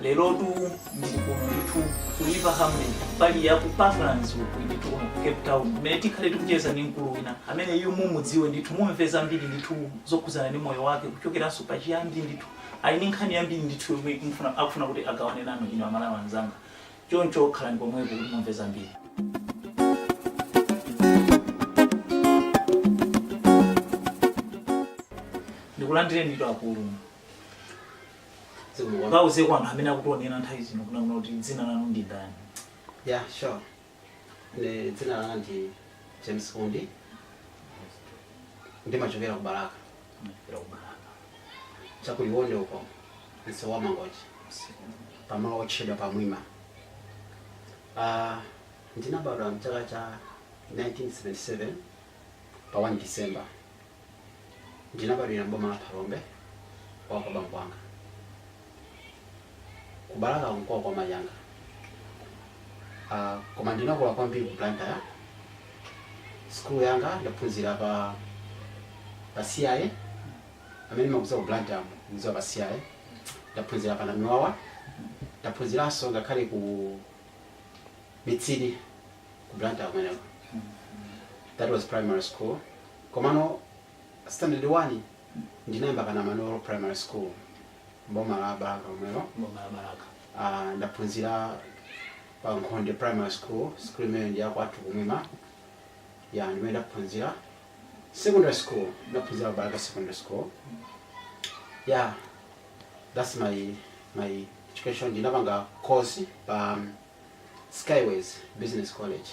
lerotu ndili kuno ndithu ku river hamley mbali ya ku parklands uku ndithu kuno ku cape town mmene tikhale tikucheza ndi mkulu wina amene inu mumudziwe ndithu mumve zambiri ndithu zokhudzana ndi moyo wake kuchokeranso pa chiyambi ndithu ali ndi nkhani yambiri ndithu yomwe akufuna kuti agawane nanu inu amalawi anzanga choncho khalani pomwepo kuti mumve zambiri ndikulandireni ndithu akulu Zikomo. Mungauzeko anthu amene akutionera nthawi zino kunena kuti dzina lanu ndi ndani. Yeah, sure. Ne dzina langa ndi James Undi. Ndimachokera ku Balaka. Chakuliwonde uko. Nsewu wa Mangochi. Pamalo otchedwa pa Mwima. Ah, ndinabadwa mchaka cha 1977 pa 1 December. Ndinabadwira m'boma la Phalombe kwawo kwa bambo anga. Ku Balaka n'kwawo kwa mayi anga. Ah, koma ndinakula kwambiri ku Blantyre. Sukulu yanga ndaphunzira pa pa CI amene mumakudziwa ku Blantyre mudziwa pa CI. Ndaphunzira pa Namiwawa. Ndaphunziranso ngakhale ku Mitsidi ku Blantyre kumeneko. That was primary school. Komano standard 1 ndinayamba pa Namanolo primary school m'boma la Balaka lomwelo. Boma la Balaka. Ah, ndaphunzira pa Nkhonde primary school, school imeneyo ndi yakwathu kumwima. Ya ndi imeneyo ndaphunzira. Secondary school ndaphunzira pa Balaka secondary school. Yeah, that's my my education. Ndinapanga course pa Skyways Business College.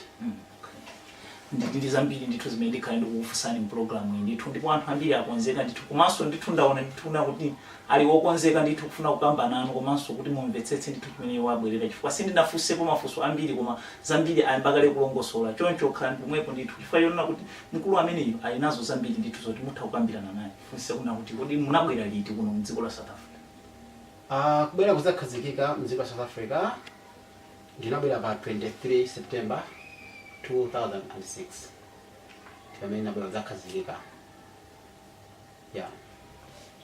ndili ndi zambiri ndithu zimene ndikhale ndikukufunsani mpulogalamu iyi ndithu ndipo anthu ambiri akonzeka ndithu komanso ndithu ndaona ndithu kunena kuti ali wokonzeka ndithu kufuna kukamba nanu komanso kuti mumvetsetse ndithu chimene iwo abwerera chifukwa sindinafunsepo mafunso ambiri koma zambiri ayamba kale kulongosola choncho khalani pomwepo ndithu chifukwa chonena kuti mkulu ameneyu ali nazo zambiri ndithu zoti mutha kukambirana naye ndifunse kunena kuti kodi munabwera liti kuno mdziko la south africa Uh, kubwera kudzakhazikika mdziko la South Africa ndinabwera pa 23 September 2006 pamene ndinabwera kudzakhazikika yeah.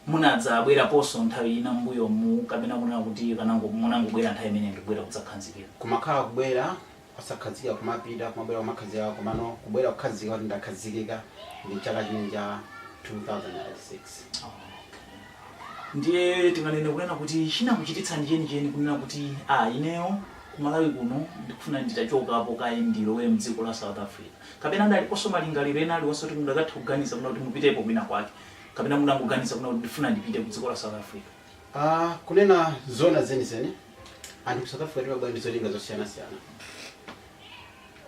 munadzabweraponso nthawi ina mbuyomu kapena kunena kuti munango munangobwera nthawi imeneyi ndi kubwera kudzakhazikika kumakhala kubwera osakhazikika kumapita kumabwera kumakhazikika komano kubwera kukhazikika kuti ndakhazikika ndi chaka chimenechi cha 2006 ndiye tinganene kunena kuti chinakuchititsani chenicheni kunena kuti a ineyo kumalawi kuno ndikufuna nditachokapo kaye ndilowe mdziko la south africa kapena analiponso malingaliro ena aliwonse kuti mudakatha kuganiza kunena kuti mupitepo kwina kwake kapena mudangoganiza kunena kuti ndifuna ndipite ku dziko la south africa Ah, kunena zona zenizeni anthu ku south africa timabwera ndi zolinga zosiyanasiyana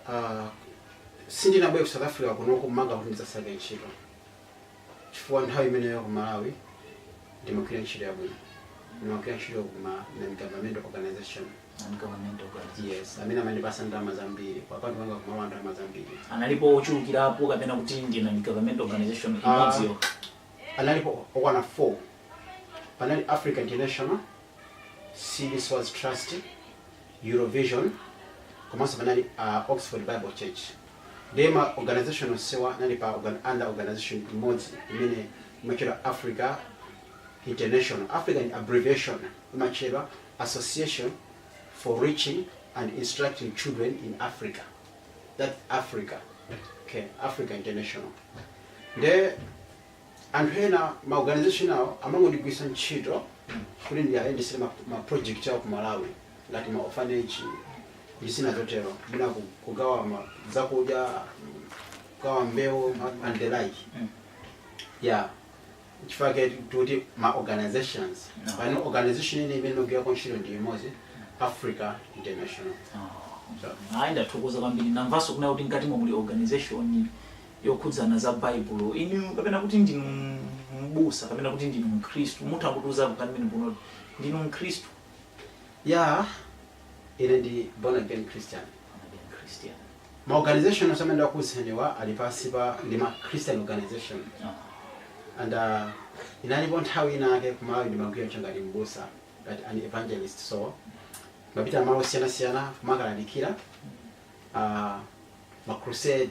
Ah, sindinabwere ku south africa kuno kunena kuti ndidzasake ntchito chifukwa nthawi imeneyo ku malawi ndimagwira ntchito yabwino ndimagwira ntchito ku ma non-government organization Non-government organization. yes amene amandipasa ndalama zambiri kwa kwathu kwanga kumalawi ndalama zambiri analipo ochulukirapo kapena kuti ndi non-government organization Ah, imodziyo Analipo okwana 4. Panali Africa International, City Source Trust, Eurovision komanso panali Oxford Bible Church. Ndiye ma organization onsewa anali pa organ- under organization imodzi imene imatchedwa Africa International. Africa ndi abbreviation imatchedwa Association for Reaching and Instructing Children in Africa. that africa okay africa international nde anthu ena ma organization awo amangondigwiritsa ntchito kuti ndiyayendesere ma, ma project awo ku malawi ngati ma orphanage ndi zina zotero mwina ku- kugawa ma- zakudya kugawa mbewu ma- and the like yeah nchifukwa chake tikuti ma organizations No. pano organization ine imene ndikugwirako ntchito ndi imodzi africa international Ah, ayi ndathokoza kwambiri ndamvanso kunena kuti mkati mwa muli organization yokhudzana za baibulo inu kapena kuti ndinu mbusa kapena kuti ndinu mkhristu mutha kutiuza pamenepo kuti ndinu mkhristu ya Ine ndi born again Christian. Born again Christian. Ma organization onse amene ndakuuzeniwa ali pansi pa ndi ma Christian organization. Uh -huh. And uh, inalipo nthawi ina yake kumalawi ndimagwira ntchito ngati mbusa ngati an evangelist so ndimapita malo osiyanasiyana kumakalalikira uh, ma crusade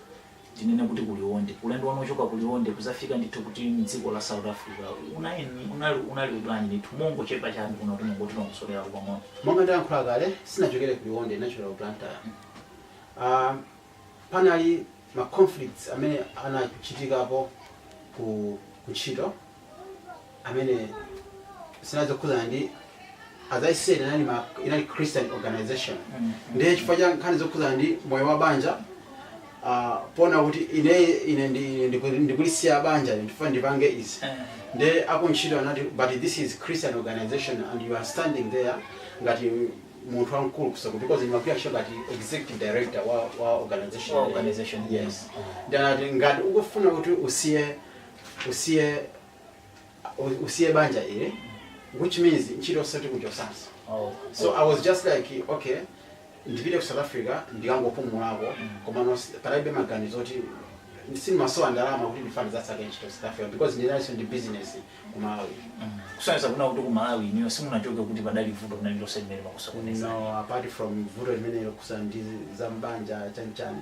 tinene kuti ku Liwonde, ulendo wanu wochoka ku Liwonde kudzafika ndithu kuti m'dziko la South Africa unayeni, unali, unali bwanji ndithu mongochepa chabe kuno kuti mungotilongosolerapo pang'ono. Monga ndayankhula kale, sindinachokere ku Liwonde, ndinachokera ku Blantyre. Uh, panali ma conflicts amene anachitikapo ku, ku ntchito amene zinali zokhudzana ndi as i said inali, ma, inali christian organization ndiye chifukwa cha nkhani zokhudzana ndi moyo wa banja uh, pona kuti ine ine ndi- ndiku- ndikulisiya banja ndifuna ndipange izi nde akuntchito anati but this is christian organization and you are standing there ngati munthu wamkulu wa, so because ndimagwira ntchito ngati executive director wa, wa organization Wa organization. yes ndiye anati ngati ukufuna kuti usiye usiye u- usiye banja ile which means ntchito osati kuchotsanso Oh. so i was just like okay ndipite ku south africa ndikangopumulako komano si- palibe maganizo oti sindimasowa ndalama kuti ndifane ndidzasake ntchito south africa because ndinalinso ndi business ku malawi kusonyeza kunena kuti ku malawi inuyo simunachoke kuti padali vuto lina lililonse limene limakusokonezani no apart from vuto limene lokhudza ndi zambanja chanichani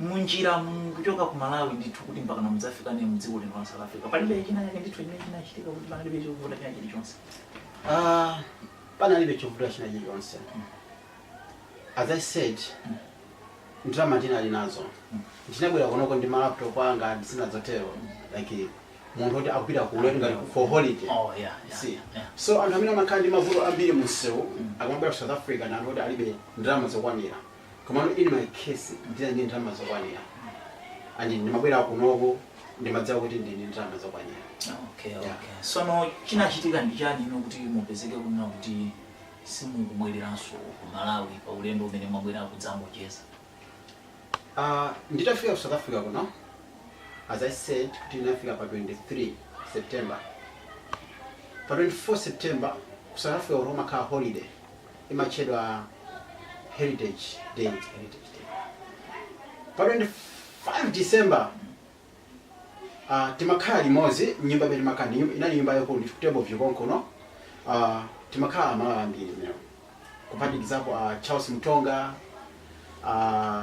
munjiramu kuchoka ku Malawi ndithu kuti mpakana mudzafika mdziko lino la South Africa palibe china chake ndithu chimene chinachitika kuti panalibe chovuta china chilichonse Ah, panalibe chovuta china chilichonse as i said ndalama ndinali nazo ndinabwera kunoko ndi malaptop anga ndi zina zotero like munthu woti akupita ku ulendo ngati for holiday oh yeah yeah, See. yeah. so anthu amene amakhala ndi mavuto ambiri mumsewu akamabwera ku south africa ndi anthu oti alibe ndalama zokwanira komano in my case ndinali ndi ndalama zokwanira and ndimabwera kunoko ndimadziwa kuti ndinali ndi ndalama zokwanira okay Yeah. okay sono chinachitika ndi chani tsono kuti mupezeke kunena kuti simunabwererenso ku malawi pa ulendo umene mwabwera kudzangocheza Uh, nditafika ku south africa kuno as i said kuti ndinafika pa 23 september pa 24 september ku south africa kuno kumakhala holiday imatchedwa heritage day heritage day pa 25 december uh, timakhala limodzi nyumba imene timakhala ndi nyumba- inali nyumba yaikulu mu table view konkuno uh, timakhala amalawi ambiri mmenemo kuphatikizapo uh, charles mtonga uh,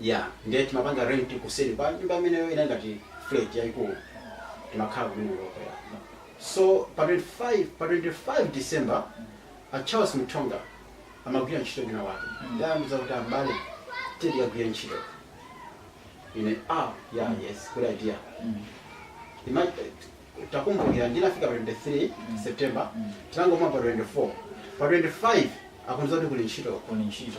ya ndiye timapanga rent kuseri kwa nyumba imeneyo inali ngati flat yaikulu timakhala kumeneko ya so pa 25 pa 25 december a charles mtonga amagwira ntchito kwina wake ndinawauza kuti abale tidziyagwira ntchito ine ah ya yes good idea Ima- takumbukira ndinafika pa 23 september tinangomwa pa 24 pa 25 akundiuza kuti kuli ntchito kuli ntchito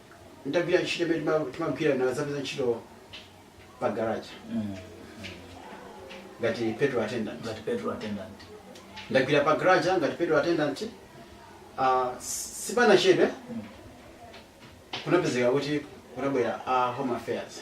ndagwira ntchito imene tima- timagwira ndinadzapeza ntchito pa garage Mm. ngati petrol attendant Ngati petrol attendant. ndagwira pa garage ngati petrol attendant ah, sipanachedwe kunapezeka kuti kunabwera a home affairs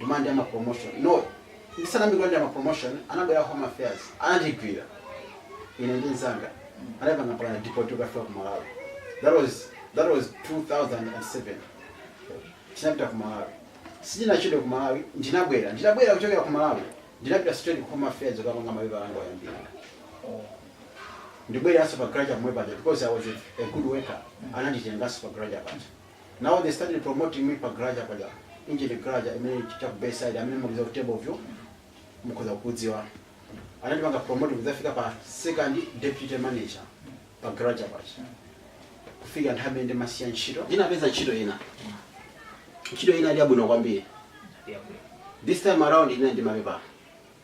munalandira ma promotion no ndisanayambe kulandira ma promotion anabwera a home affairs anandigwira ine ndi nzanga anatipanga mpaka deport kukafika ku malawi that was that was 2007 tinapita ku malawi sindinachedwe ku malawi ndinabwera ndinabwera kuchokera ku malawi ndinapita straight ku home affairs kukapanga mapepala anga oyambira ndinabwereranso pa garage pomwe paja because i was a, a good worker ananditenganso pa garage paja Now they started promoting me pa garage paja. Engen garage imene cha ku Bayside amene mukuza kutebo vyo. Mukuza kudziwa. Anandipanga promote kuzafika pa second deputy manager pa garage paja. Kufika nthawi imene ndimasiya ntchito. Ndinapeza ntchito ina. Ntchito ina inali yabwino kwambiri. This time around ina ndi mapepa.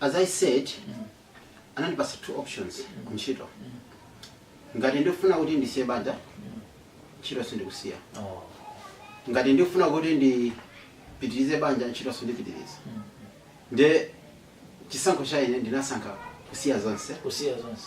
as i said anandipasa two options ntchito ngati ndikufuna kuti ndisiye banja ntchito sindikusiya Oh. ngati ndikufuna kuti ndipitirize banja ntchito sindipitiriza nde chisankho cha ine ndinasankha kusiya zonse kusiya zonse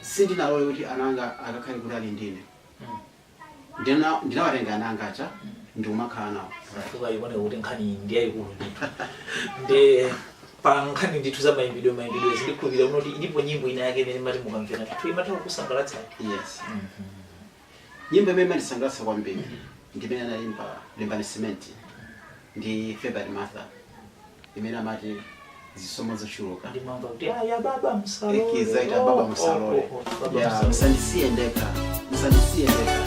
sindinalole kuti ana anga akakhale kutali ndine ndina ndinawatenga ana anga aja ndikumakhala nawo ikuoneka kuti nkhani ndi yayikulu ndithu koma pa nkhani ndithu za mayimbidwe mayimbidwe ndikukhulupirira kuti ilipo nyimbo ina yake imene mumati mukamvera ndithu imatha kukusangalatsani yes Nyimbo imene imandisangalatsa kwambiri ndi imene anaimba Limbani Simenti ndi Favourite Martha imene amati zisomo zochuluka. Ndimamva kuti aya baba msalole. Ekiza ita baba Oh, msalole. oh, oh, oh, baba Ya, msalole. msandisiye ndekha. Msandisiye ndekha.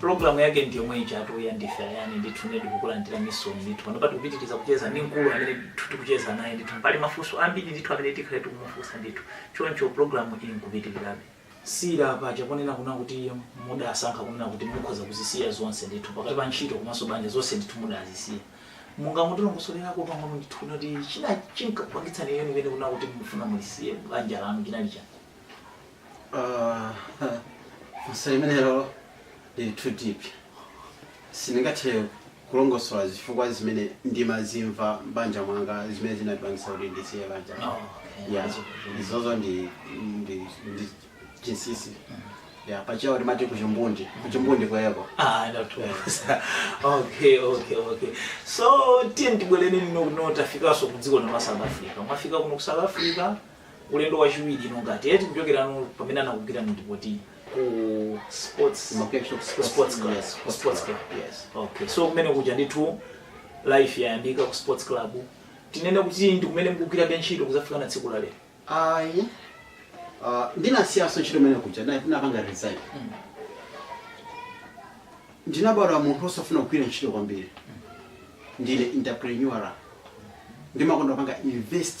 Program yake ndi yomwe ijatu ya Ndife Ayani ndithu nedi kukulandira misoni ndithu pano pati kupitiriza kucheza ndi mkulu amene ndithu tikucheza naye ndithu pali mafunso ambiri ndithu amene tikhale tikumufunsa ndithu choncho program iyi ikupitirirabe tisanasiye paja ponena kunena kuti mudasankha kunena kuti mukhoza kuzisiya zonse ndithu pakati pa ntchito komanso banja zonse ndithu mudazisiya mungatilongosolereko pang'ono ndithu kunena kuti china chinkakupangitsani chenicheni chimene kunena kuti mufuna mulisiye banja lanu chinali chani funso limenelo lili too deep sindingathe kulongosola zifukwa zimene ndimazimva m'banja mwanga zimene zinandipangisa kuti ndisiye banja ya izozo ndi ndi ndi chinsisi ya pachiyao timati kuchimbundi kuchimbundi kweko Ah, ndathokoza. okay okay okay so tiyeni tibwerere tsono kuno tafikanso ku dziko la south africa mwafika kuno ku south africa ulendo wachiwiri uno ngati eti kuchokera pamene anakugwirani n'kukupangani deport ku sports ku sports, sports club yes, ku sports club yes. okay so kumene kuja ndithu life yayambika ku sports club tinene kuti ndi kumene mukugwirabe ntchito kuzafika na tsiku la lero ayi uh, ndinasiyaso ntchito imene kuja na- napanga resign ndinabadwa munthu osafuna kugwira ntchito kwambiri ndine entrepreneur ndimakonda kupanga invest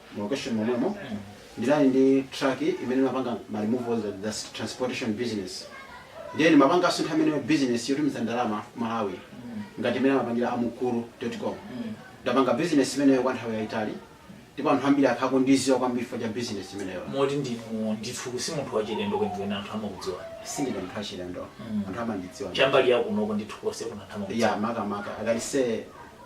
mu location momwemo ndinali ndi truck imene imapanga ma removals and that's transportation business ndiye ndimapanga asintha imene business yotumiza ndalama ku malawi ngati imene amapangira a mukuru.com ndapanga business imeneyo kwa nthawi yayitali ndipo anthu ambiri akhala akundidziwa kwambiri for business imeneyo moti ndinu ndithu si munthu wachilendo kwenikweni anthu amakudziwa sindine munthu wachilendo anthu amandidziwa chambali yakunoko ndithu konsekuno anthu amakudziwa ya makamaka akalekale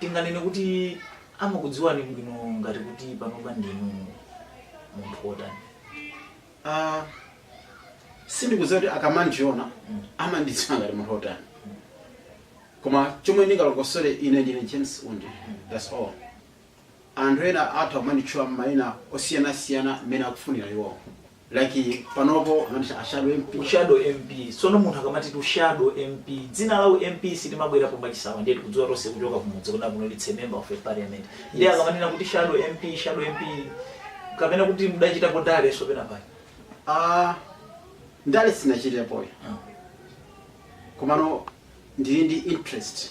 Tinganene kuti amakudziwani bwino ngati kuti panopa ndinu munthu wotani? Sindikudziwa kuti akamandiona amandidziwa ngati munthu wotani koma chomwe ndingalongosole ine ndine james undi that's all anthu ena atha kumanditchula maina osiyanasiyana mmene akufunira iwowo Like panopo amanditcha shadow MP. U shadow MP. Sono munthu akamati ndi shadow MP. Dzina la u MP silimabwera pomangochisawawa ndiye tikudziwa tonse kuchoka kumudzi kuna kuno liti member of a parliament. Ndiye akamanena kuti shadow MP, shadow MP kapena kuti mudachitapo ndale penapake. Ah, ndale sindinachitepo. Ah. Komano ndili ndi interest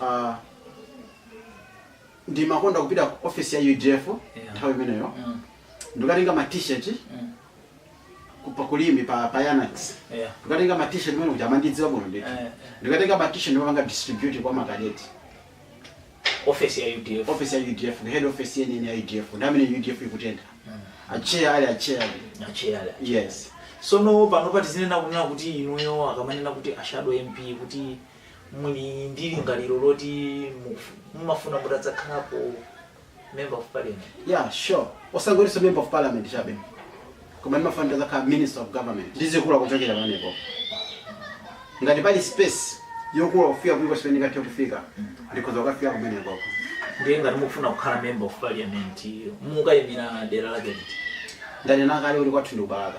Ah, ndimakonda kupita ku office ya udf Yeah. nthawi imeneyo Mm. ndikatenga ma t-shirt Mm. ku- pa ku Limbe pa pa yanax Yeah. ndikatenga ma t-shirt moti amandidziwa bwino ndithu Eh, eh. ndikatenga ma t-shirt ndimapanga distribute kwa makadeti office ya udf office ya udf head office yeniyeni ya udf nthawi imene udf ikutentha atcheya ali atcheya ali atcheya yes sono pano pachifika kunena kuti inuyo akamanena kuti a shadow mp kuti muli ndi lingaliro loti mukufu- mumafuna mutadzakhalapo member of parliament yeah sure osangoti member of parliament chabe koma ndimafuna ndidzakhale minister of government ndizikula kuchokera pamenepo ngati pali space yokula kufika kulikonse pamene ndingathe kufika ndikhoza kukafika kumeneko ndiye ngati mukufuna kukhala member of parliament mukayimira dera lake liti ndanena kale kuti kwathu ndi ku Balaka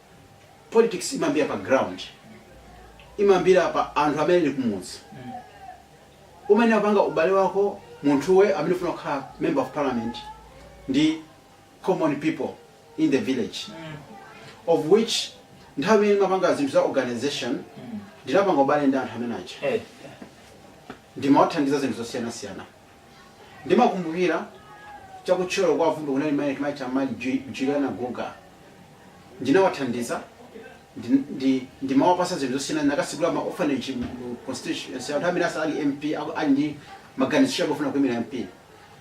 politics imambira pa ground imambira pa anthu amene ali kumudzi umene umapanga ubale wako munthuwe amene ufuna kukhala member of parliament ndi common people in the village of which nthawi imene ndimapanga zinthu za organization ndinapanga ubale ndi anthu amene aja Eh, ndimawathandiza zinthu zosiyanasiyana Ndimakumbukira cha ku Thyolo kwa Bvumbwe kunali mayi timatcha mayi Ju- Juliana Guga. Ndinawathandiza ndi- ndi- ndimawapasa zinthu zosiyana ndinakatsegula ma orphanage mu constituency nthawi imene asali MP aku- ali ndi maganizo chabe ofuna kuimira MP.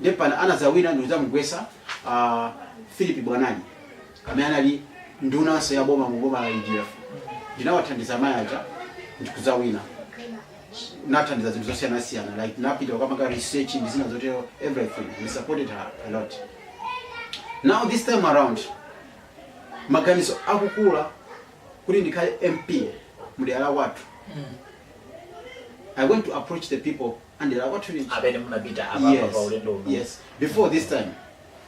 Ndipo pamene anadzawina ndikudzamugwesa ah, Philip Bwanali amene anali ndunanso ya boma mu boma la UDF. Ndinawathandiza mayi aja ndikudzawina. nathandiza zinthu zosiyanasiyana like napita kukapanga research ndi zina zotero everything we supported her a lot now this time around maganizo akukula kuti ndikhale mp mudera wathu i went to approach the people amdera lathu lija amene munapita apapa pa yes, ulendo uno yes before this time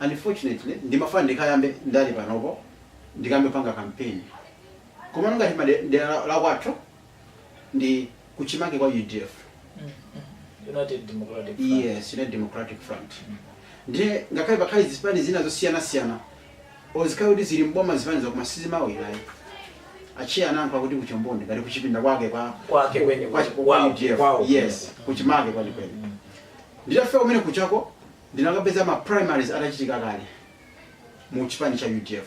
Unfortunately ndimafuna ndikayambe ndale panopo ndikayambe kupanga campaign komano ngati made- mdera lakwathu ndi kuchimake kwa udf United Democratic Front. yes united democratic front ndiye ngakhale pakhale zipani zina zosiyanasiyana or zikhale kuti zili mboma zipanizo koma sizimawinayi atcheya anankho akuti kuchombondi ngati kuchipinda kwake kwa Kwake kweni- kwa- kwa kwao- UDF. kwao. yes kuchimake kwenikweni nditafika kumene kujako Ndinakapeza ma primaries atachitika kale mu chipani cha udf.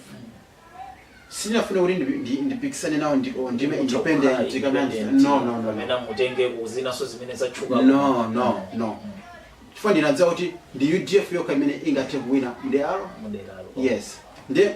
Sindinafune kuti ndi ndi ndipikisane nawo ndi or ndiime Mutha kukhala independent kapena ndi independent, no no no. no. kapena mutengeko zinanso zimene zatchuka No no no. Chifukwa ndinadziwa kuti ndi udf yokha imene ingathe kuwina mderalo. muderalo Yes. Nde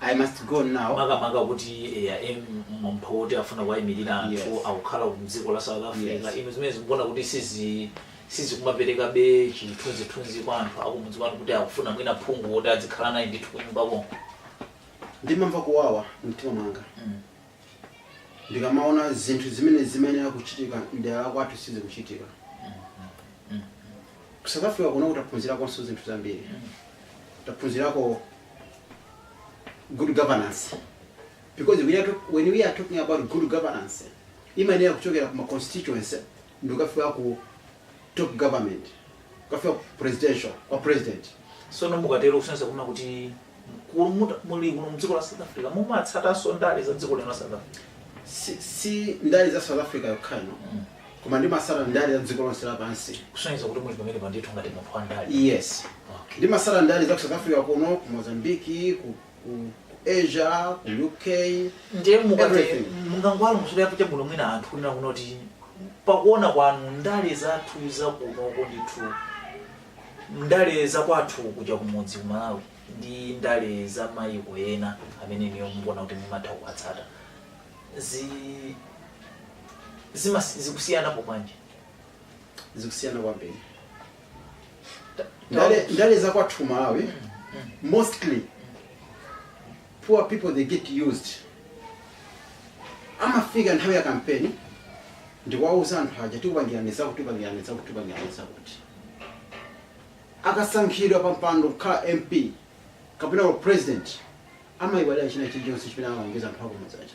I must go now. makamaka kuti eya em, munthu woti afuna kuwayimirira anthu Yes. akukhala mdziko la south africa Yes. inu zimenezi mukuona kuti sizi sizikumaperekabe chithunzithunzi kwa anthu akumudzi kwanu kuti akufuna mwina phungu woti adzikhala naye ndithu kunyumba konko Ndimamva kuwawa mtima mwanga. Mm. ndikamaona zinthu zimene zimayenera kuchitika mdera la kwathu sizikuchitika ku south africa kuno taphunzirakonso zinthu zambiri taphunzirako good governance because we are talk, when we are talking about good governance imayenera kuchokera ku ma constituency ndikukafika ku top government kukafika ku presidential kwa president sono mukatero kusonyeza kunena kuti ku- muta- muli kuno mdziko la south africa mumatsatanso ndale za dziko lino la south africa si, si ndale za south africa yokha no koma ndimatsata ndale za dziko lonse lapansi kusonyeza kuti muli pamenepa ndithu ngati munthu wa ndale yes Okay. ndimatsata ndale za ku south africa kuno ku mozambiki ku ku ku asia ku uk ndiye mukati Everything. mungangowalongosolerapo chabwino mwina anthu kunena kuno kuti pakuona kwanu ndale zathu zakunoko ndithu ndale zakwathu kuja kumudzi ku malawi ndi ndale za mayiko ena amene inuyo mukuona kuti mumatha kuwatsata zi zimas- zikusiyanapo bwanji zikusiyana kwambiri ndale, ndale za kwathu malawi mostly poor people they get used amafika nthawi ya kampeni ndikuwauza anthu aja tikupangirani zakuti tikupangirani zakuti tikupangirani zakuti akasankhidwa pa mpando kukhala mp kapena wa president amayiwalira china chilichonse chimene amalonjeza anthu akumudzi aja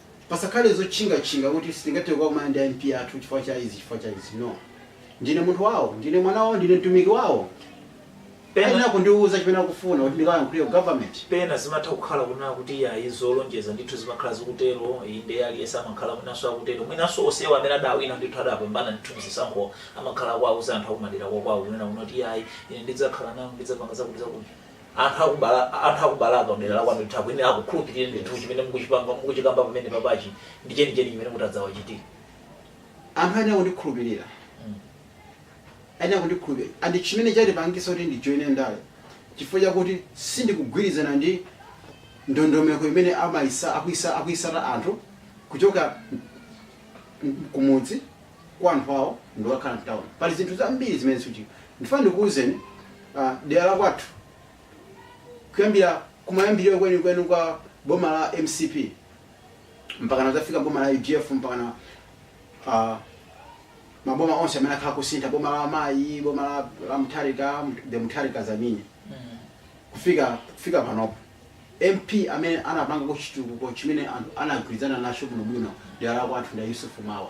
Pasakhale zotchingatchinga kuti sitingathe kukakumana ndi a MP athu chifukwa cha izi chifukwa cha izi. No. Ndine munthu wawo, ndine mwana wawo, ndine mtumiki wawo. Pena- Ayenera kundiwuza chimene akufuna kuti ndikalankhule ku government. pena zimatha kukhala kunena kuti yayi zolonjeza ndithu zimakhala zikutero inde aliyense samakhala mwinanso akutero mwinanso onsewa amene adawina ndithu adapambana ndithu mzisankho amakhala akuwauza anthu akumadera kwakwawo kunena kuti yayi ine ndidzakhala nanu ndidzapanga zakuti zakuti anthu akubala anthu akubalaka mdera la kwanu ndithu kodi akukhulupirira ndithu chimene mukuchipanga mukuchikamba pamenepachi ndi chenicheni chimene mutadzawachitire anthu ayenera kundikhulupirira Mm. ayenera kundikhulupirira and chimene chandipangisa kuti ndijoine ndale chifukwa chakuti sindikugwirizana ndi ndondomeko imene amayisa akuyisa akuyitsata anthu kuchoka m- kumudzi kwa anthu awo ndikukakhala mtauni pali zinthu zambiri zimene sizichitika ndifuna ndikuwuzeni ah, dera la kwathu kuyambira kumayambiriro kwenikweni kwa boma la mcp mpakana kuzafika boma la udf mpakana ah, maboma onse amene akhala kusintha boma la mayi boma la, la mutharika the mutharikas I mean kufika kufika panopo MP amene anapangako chitukuko chimene anthu anagwirizana nacho bwino bwino dera la kwathu ndi a Yusuf Mwawa.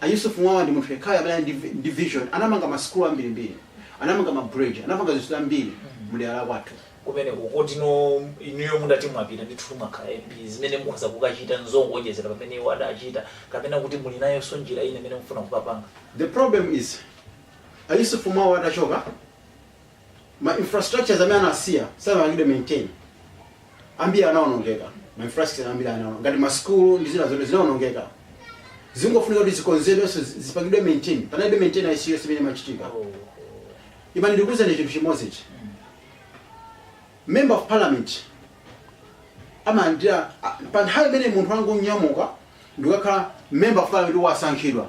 A Yusuf Mwawa ndi munthu yekhayo amene ali ndi vi- ndi vision. Anamanga ma school ambiri mbiri. Anamanga ma bridge, anapanga zinthu zambiri mu dera la kwathu. kumeneko tiyeni inuyo mutati mwapita ndithu mwakhala mp zimene mukhoza kukachita nzongoonjezera pamene iwo adachita kapena kuti muli nayonso njira ina imene mufuna kukapanga The problem is a Yusuf Mwawa atachoka ma infrastructures amene anasiya sanapangidwe maintain ambiri anaonongeka ma infrastructure ambiri anaonongeka ngati ma school ndi zina zote zinaonongeka zingofunika kuti zikonzedwenso zi- zipangidwe maintain panalibe maintenance iyo zimene zimachitika imani ndikuuzeni chinthu chimodzi ichi member of parliament amalandira a- pa nthawi imene munthu wangonyamuka ndikakhala member of parliament wasankhidwa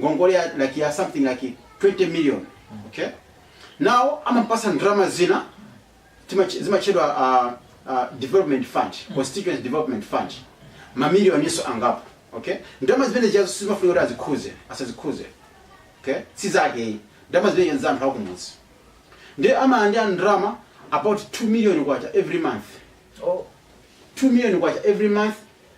ngongole ya like yeah something like 20 million okay now amapasidwa ndalama zina timache- zimatchedwa uh, uh, development fund constituency development fund mamiliyoniso angapo okay ndalama zimenezijazo sizimafunika kuti azikhudze asazikhudze okay si zake ayi ndalama zimenezija nza anthu akumudzi ndi amalandira ndalama about 2 million kwacha every month Oh. 2 million kwacha every month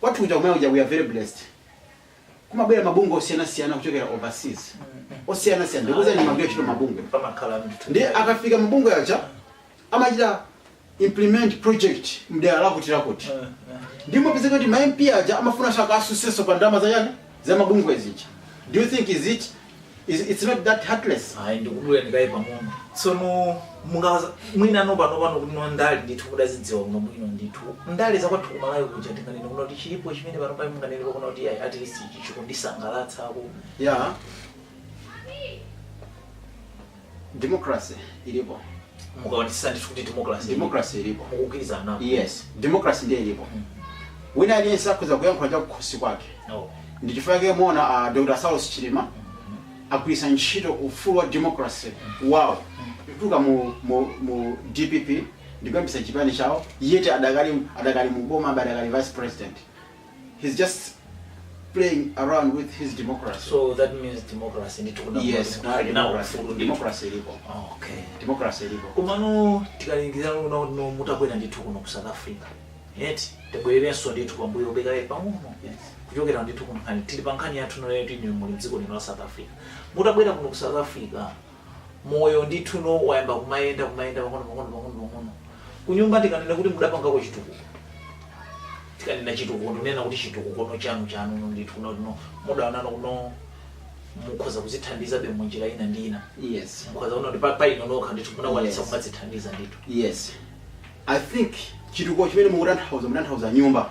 Kwathu kuja kumene kuja we are very blessed. Kumabwera mabungwe osiyana siyana kuchokera overseas. Osiyana siyana ndikuuzani ndimagwira ntchito mmabungwe. Pamakhala mtu. Nde akafika mabungwe aja amachita implement project mdera la kuti la kuti. Eh, eh. Nde amapezeka kuti ma MP aja amafuna share yakenso pa ndalama za yani za mabungwe zija. Do you think is it It's, it's not that heartless. ayi ndikudula ndikaye pang'ono tsono mungawauze mwina ano pano pano kuti no ndale ndithu kuti azidziwa kuno bwino ndithu ndale zakwathu kuMalawi kuja tinganene kuno kuti chilipo chimene pano pali munganene kuno kuti ayi, at least ichi chikundisangalatsa ako Yeah. Democracy ilipo. Mukuonetsa ndithu kuti democracy. Democracy ilipo. Mukugwirizana nazo. Yes. Democracy ndiye ilipo. Mm. Wina aliyense akhoza kuyankhula cha kukhosi kwake. No. Ndi chifukwa chake muona uh, ah, Dr. Saulos Chilima mm -hmm. agwiritsa ntchito ufulu wa democracy mm. wawo kutuluka mu, mu, mu DPP ndikuyambitsa chipani chawo yeti adakali adakali muboma adakali vice president he's just playing around with his democracy so that means democracy ndithu kuno yes kuno ali nawo democracy ufulu ndithu democracy ilipo okay democracy ilipo komano tikalingalira zoona kuti no mutabwera ndithu kuno ku south africa yet tibwererenso ndithu pambuyo bekaye pang'ono yes kuchokera ndithu ku nkhani tili pa nkhani yathu no yoti inu muli mdziko lino la south africa mutabwera kuno ku south africa moyo ndithu no wayamba kumayenda kumayenda pang'ono pang'ono pang'ono pang'ono kunyumba tikanena kuti mudapangako chitukuko tikanena chitukuko ndinena kuti chitukuko no chanu chanu no ndithu no no mudaona no no mukhoza kuzithandiza be munjira ina ndi ina yes mukhoza kuona kuti pa- pa inu nokha ndithu munakwanisa Yes. kumadzithandiza ndithu yes i think chitukuko chimene mukutanthauza mutanthauza nyumba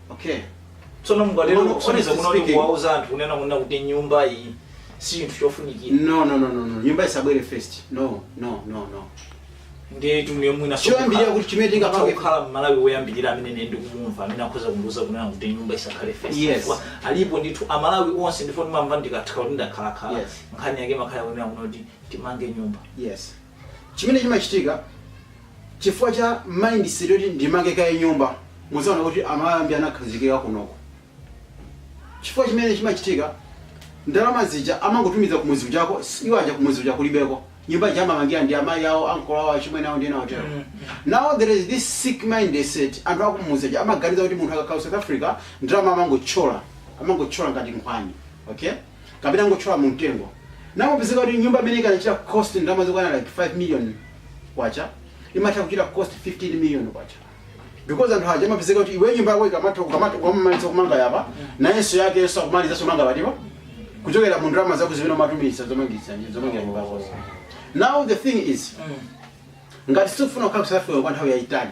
okay tsono mukatero Ono- kusonyeza honestly kuno kuti speaking- kuwauza anthu kunena kunena kuti nyumba iyi si chinthu chofunikira no no no no no nyumba isabwere first no no no no ndiye timve mwina Choyambirira kuti chimene tingapange- kukhala mmalawi woyambirira amene ine ndikumumva amene akhoza kundiuza kunena kuti nyumba isakhale fesi Yes. Chifukwa alipo ndithu amalawi onse ndipo timamva ndikafika kuti ndakhalakhala Yes. nkhani yake imakhala kunena kuno kuti timange nyumba yes Chimene chimachitika chifukwa cha mindset yoti ndimange kaye nyumba, mudzaona kuti Amalawi ambiri anakhazikika kunoko. Chifukwa chimene chimachitika, ndalama zija amangotumiza kumudzi kujako, iwo aja kumudzi kuja kulibeko. Nyumba ija amamangira ndi amayi awo, ankolo awo, achimwene awo ndi ena otero. Now there is this sick mindset, anthu akumudzi aja amaganiza kuti munthu akakhala ku South Africa ndalama amangotchola, amangotchola ngati nkhwani. Okay? kapena angotchola mu mtengo nde amapezeka kuti nyumba imene ikanachita cost ndalama zokwana like 5 million kwacha imatha kuchita cost 15 million kwacha because anthu aja amapezeka kuti iwe nyumba yako ikamatha ukamatha ukamamaliza kumanga apa nayenso yake iyenso akumalizanso kumanga pambalipa kuchokera mu ndalama zako zimene umatumiza zomangitsa zomangira nyumba yakozo now the thing is ngati sukufuna kukhala ku South Africa kwa nthawi yayitali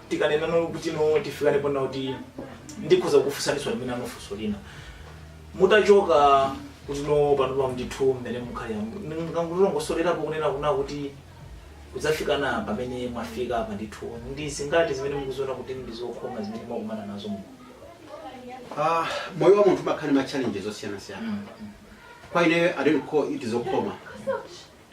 tikanena nalo kuti no tifikane pona kuti ndikhoza kukufunsaninso limene funso lina mutachoka kuno panopa ndithu mmene mukhalira mungatilongosolereko kunena kuti kudzafikana pamene mwafika apa ndithu ndi zingati zimene mukuziona kuti ndi zokhoma zimene mwakumana nazo mu Ah, moyo wa munthu umakhala ndi ma challenges osiyana siyana Mm, mm. kwa ineyo i don't call it zokhoma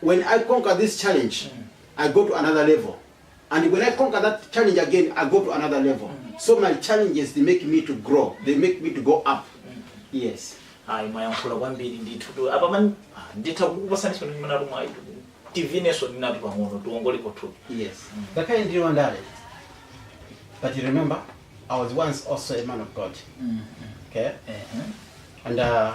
when I conquer this challenge I go to another level and when I conquer that challenge again I go to another level so my challenges they make me to grow they make me to go up yes ayi mwayankhula kwambiri ndithutu apa man ah, nditha kukupasaninso ndi mwayi nyimbo ayi tivinenso ndinati pang'ono tiwongolepo thupi yes ngakhale ndili wandale but you remember I was once also a man of God okay and uh,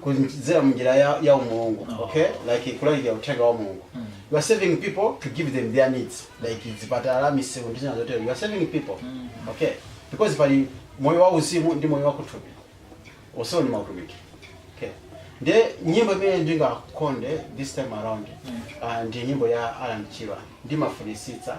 kudzera munjira ya, ya umulungu okay like kulalikira uthenga wa mulungu you are serving people to give them their needs like zipatala misewu ndi zina zotero you are serving people okay because pali moyo wa uzimu ndi moyo wa kuthupi onsewo ndi mautumiki okay nde nyimbo imene ndingakonde this time around ah, ndi nyimbo ya alan chirwa ndimafunisitsa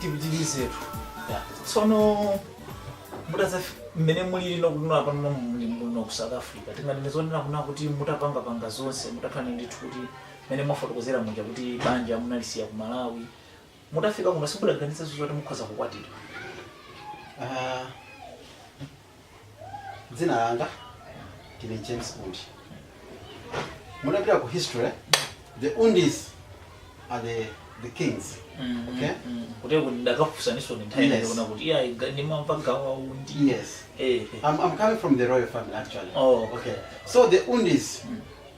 tipitirizetu tsono mutaza mmene mulili kuno pano muli muno ku south africa tinganene zonena kunena kuti mutapangapanga zonse mutakhala ndithu kuti mmene mwafotokozera muja kuti banja munalisiya ku malawi Mutafika kuno simudaganizenso zoti mukhoza kukwatira? Ah, dzina langa ndine James Undi. Mutapita ku history, the Undis are the, the kings. Okay? Kuti kuti ndikufunsaninso ndi nthawi Yes. ndaona kuti iya ndimamva gawa undi. Yes. Eh. eh. I'm, I'm coming from the royal family actually. Oh, okay. So the Undis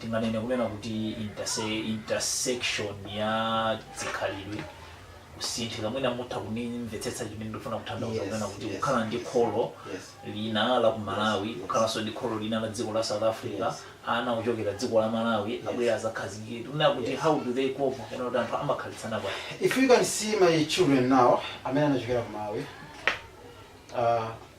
tinganene kunena kuti intersection ya zikhalidwe kusinthika mwina mutha kundimvetsetsa chimene ndikufuna kutanthauza Yes, kunena kuti yes, kukhala ndi yes. kholo Yes. lina la ku malawi kukhalanso ndi kholo lina la dziko la south africa Yes. ana ochokera dziko la malawi abwera azakhazikike kunena kuti Yes. how do they cope kapena kuti anthu amakhalitsana bwanji If you can see my children now, amene anachokera ku Malawi, uh,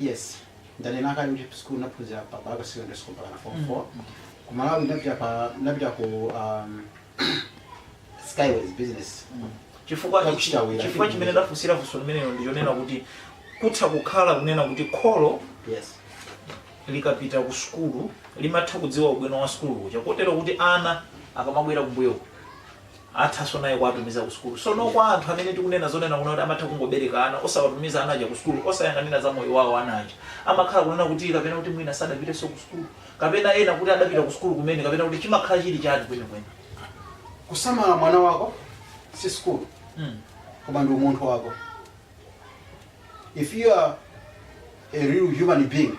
Yes. Ndanena kale kuti school naphunzira pa Balaka Secondary School mpaka na form 4. Ku Malawi napita pa napita ku um, Skyways Business. chifukwa Takuchitirani. chifukwa chimene ndafunsira funso limenelo ndichonena kuti kutha kukhala kunena kuti kholo Yes. likapita ku sukulu limatha kudziwa ubwino wa sukulu kuja kotero kuti ana akamabwera kumbuyo athanso naye kuwatumiza ku sukulu so no kwa anthu amene tikunena zonena kuno kuti amatha kungobereka ana osawatumiza ana aja ku sukulu osayang'anira za moyo wawo ana aja amakhala kunena kuti kapena kuti mwina sadapitenso ku sukulu kapena ena kuti adapita ku sukulu kumene kapena kuti chimakhala chili chani kwenikweni kusamala mwana wako si sukulu Mm. koma ndi umunthu wako if you are a real human being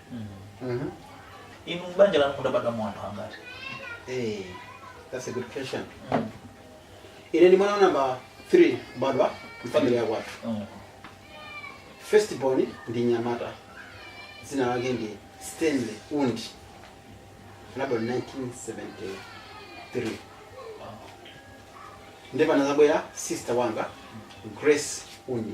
Mhm. inu m'banja lanu mudabadwamo anthu angati Eh, that's a good question. Ine ni mwana namba 3 kubadwa mfamili ya kwathu. Mm. First born ndi mnyamata. Dzina lake ndi Stanley Undi. Anabadwa 1973. Ndiye panazabwera sister wanga Grace Undi.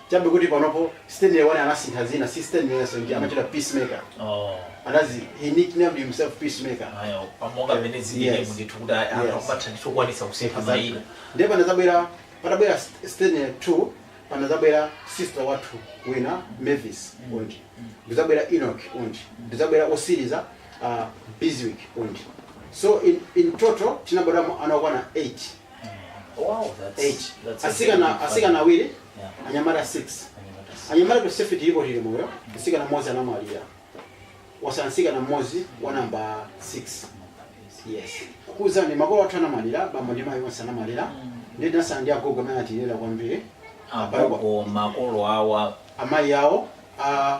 chabe kuti panopo Stanley One anasintha dzina si Stanley-nso ndi amachita peacemaker oh anazi he nicknamed himself peacemaker eya pa monga mmene Yes. zilili ndithu kuti Yes. anatha ndithu kukwanisa kusintha mayina ndiye panazabwera patabwera St- Stanley 2 panazabwera sister wathu wina Mavis Undi nkuzabwera Enoch Undi nkuzabwera otsiriza uh, Biswick Undi so in, in total tinabadwamo ana okwana 8 Wow, that's Eight. that's a asikana very big asikana awiri family. Yeah. anyamata 6 Anyamata six. anyamata tonsefe tilipo tili moyo msikana mmodzi anamwalira watsala msikana mmodzi wa namba 6 yes kuuzani makolo athu anamwalira bambo ndi mayi onse anamwalira nde tinatsala ndi agogo amene anatilera kwambiri Agogo makolo awa amayi awo a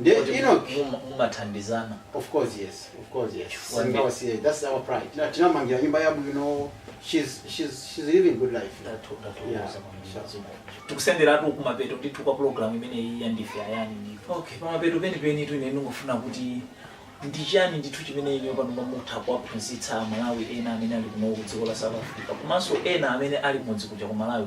Nde Kodi Enoch muma- mumathandizana of course yes of course yes Chifukwa ndi- sitingawasiye that's our pride tinawamangira nyumba yabwino she's she's she's living good life Ndathu- ndathokoza Yeah, kwambiri. sure. Zimene. tikusenderatu kumapeto ndithu kwa programu imeneyi ya Ndife Ayani ndithu okay pamapeto penipenitu ine ndingofuna kuti ndi chani ndithu chimene inuyo pano mutha kuwaphunzitsa amalawi ena amene ali kuno ku dziko la south africa komanso ena amene ali kumudzi kuja ku malawi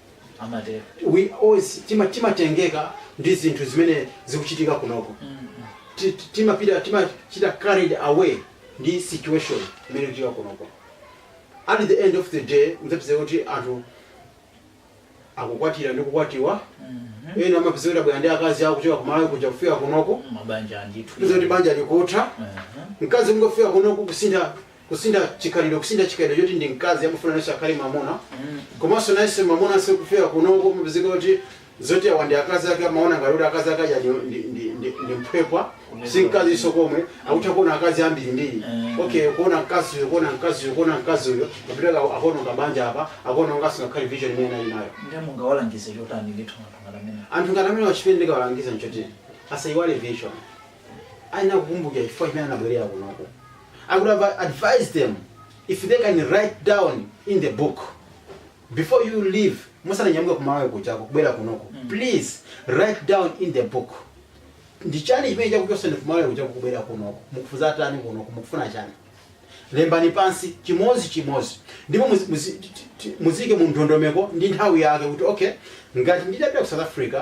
amatero we always tima timatengeka ndi zinthu zimene zikuchitika kunoko Ti- ti- timapita timachita carried away ndi situation imene ikuchitika kunoko at the end of the day mudzapeza kuti anthu akukwatira ndi kukwatiwa ena amapezeka kuti abwera ndi akazi awo kuchoka kumalawi kuja kufika kunoko mabanja ndithu kupeza kuti banja likutha Mhm. mkazi kungofika kunoko kusintha kusintha chikhalidwe kusintha chikhalidwe choti ndi mkazi amafuna nayenso akhale mwamuna komanso nayenso mwamunanso kufika kunoko amapezeka kuti zoti awa ndi akazi ake amaona ngati kuti akazi ake aja ndi- ndi- ndi- ndi- ndi mphwepwa si mkazinso komwe akutha kuona akazi ambirimbiri okay kuona mkaziyo kuona mkaziyo kuona mkaziyo akapita akuona kabanja apa akuona ngati si ngakhale vision imene ali nayo ndiye mungawalangize chotani ndithu anthu ngati amene anthu ngati amenewa chimene ndingawalangize nchoti asayiwale vision ayenera kukumbukira chifukwa chimene anabwerera kunoko I would have advised them if they can write down in the book before you leave musananyamuke kumawo kuchoka kubwera kunoko please write down in the book ndichani chimene chakuchosani kumawo kuchoka kubwera kunoko mukufuna zotani kunoko mukufuna chani lembani pansi chimozi chimozi ndipo muzi- muzi- ti- ti- muziike mu ndondomeko ndi nthawi yake kuti okay ngati ndidapita ku south africa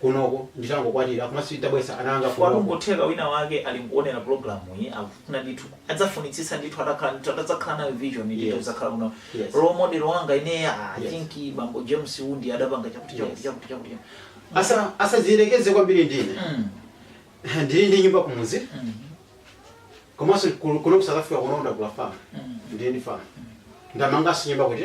kunoko nditangokwatira komanso titabweretsa ana anga chifukwa kunoko n'kutheka wina wake ali nkuonera programu iyi akufuna ndithu adzafunitsitsa ndithu atakhala ndithu atadzakhala nayo vision ndithu adzakhala kuno role model wanga ineyo ah, I think bambo james undi adapanga chakuti chakuti chakuti chakuti chakuti. Asa- asadziderereze kwambiri ndine Mm, ndili ndi nyumba kumuzi mm, komanso kuno ku south africa kuno ndagula famu mm. ndili ndi famu ndamanganso nyumba kuti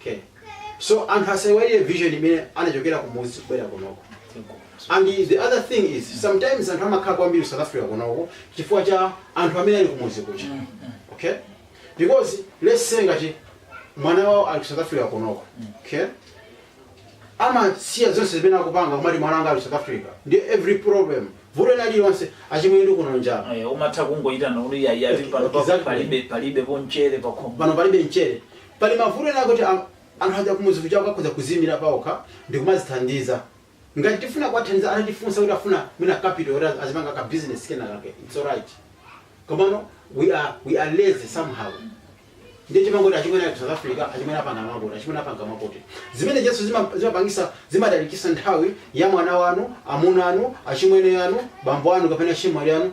Okay. So anthu asaiwale vision imene anachokera kumudzi kubwera kunoko. And the other thing is sometimes anthu amakhala kwambiri South Africa kunoko chifukwa cha anthu amene ali kumudzi kuja. Okay? Because let's say ngati mwana wawo ali ku South Africa kunoko. Okay? amasiya zonse zimene akupanga kumati mwana wanga ali South Africa. And every problem. Vuto lina lilonse achimwene ndi kuno njala. Aya, umatha kungoyitana kuti iyayi pano pa- Exactly. palibe palibe ponchere pakhomo pano palibe mchere Pali mavuto ena ake oti anthu aja kumudzi kuja akhoza kuziimira paokha ndikumazithandiza. Ngati tifuna kuwathandiza atifunsa kuti afuna mwina capital yoti azipanga ka business kena kake it's alright. Komano we are we are lazy somehow. Ndiye timangoti achimwene ali ku South Africa, achimwene apanga mwakuti, achimwene apanga mwakuti. Zimenezo zima- zimapangisa zimatalikisa nthawi ya mwana wanu, amuna anu, achimwene anu, bambo anu kapena achimwali anu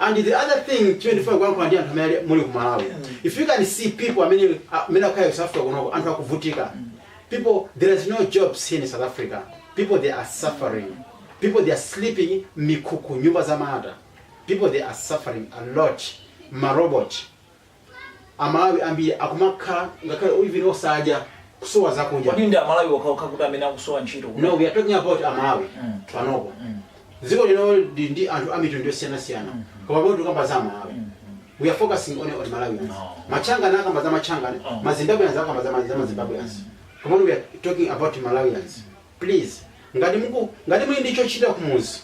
and the other thing chimene ndifuna kuyankhula ndi anthu amene ali- muli ku malawi if you can see people amene amene akhala ku south africa kunoko anthu akuvutika people there is no jobs here in south africa people they are suffering people they are sleeping m'mikhukhu nyumba za mata people they are suffering a lot marobot amalawi ambiri akumakhala ngakhale even osadya kusowa zakudya kodi ndi amalawi okhaokha amene akusowa ntchito kuno? no we are talking about amalawi Mm. panopo Mm. dziko lino ndi ndi anthu a mitundu yosiyanasiyana koma poti tikukamba za amalawi we are focusing on on malawians machangana akamba za machangana Oh. mazimbabweans akamba za ma- za mazimbabweans koma we are talking about malawians please ngati muku ngati muli ndi chochita kumuzi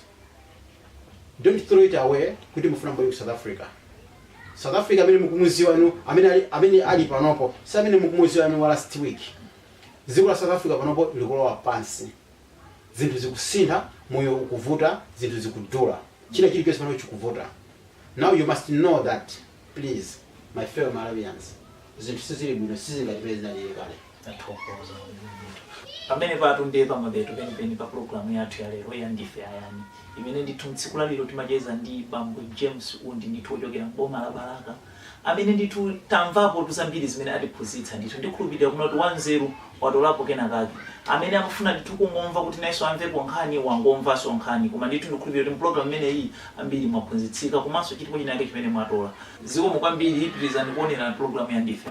don't throw it away kuti mufuna mubwere ku south africa south africa amene mukumuziwa inu amene ali, amene ali panopo si amene mukumuziwa inu wa last week dziko la south africa panopo likulowa pansi zinthu zikusintha moyo ukuvuta zinthu zikudula china chilichonse panopo chikuvuta now you must know that please my fellow malawians zinthu sizili bwino sizingatipeze zinalili kale tathokoza pamene patu ndiye pamapeto penipeni pa programu yathu ya lero ya ndife ayani imene ndithu mtsiku la lero timacheza ndi bambo james undi ndithu ochokera mboma la balaka amene ndithu tamvapo tuzambiri zimene atiphunzitsa ndithu ndikhulupirira kunoti wanzeru watolapo kena kake. Amene amafuna ndithu kungomva kuti nayenso amvepo nkhani wangomvanso nkhani koma ndithu ndikhulupirira kuti mupulogalamu imene iyi ambiri mwaphunzitsika komanso chilipo china chake chimene mwatola. Zikomo kwambiri pitirizani kuonera pulogalamu ya Ndife.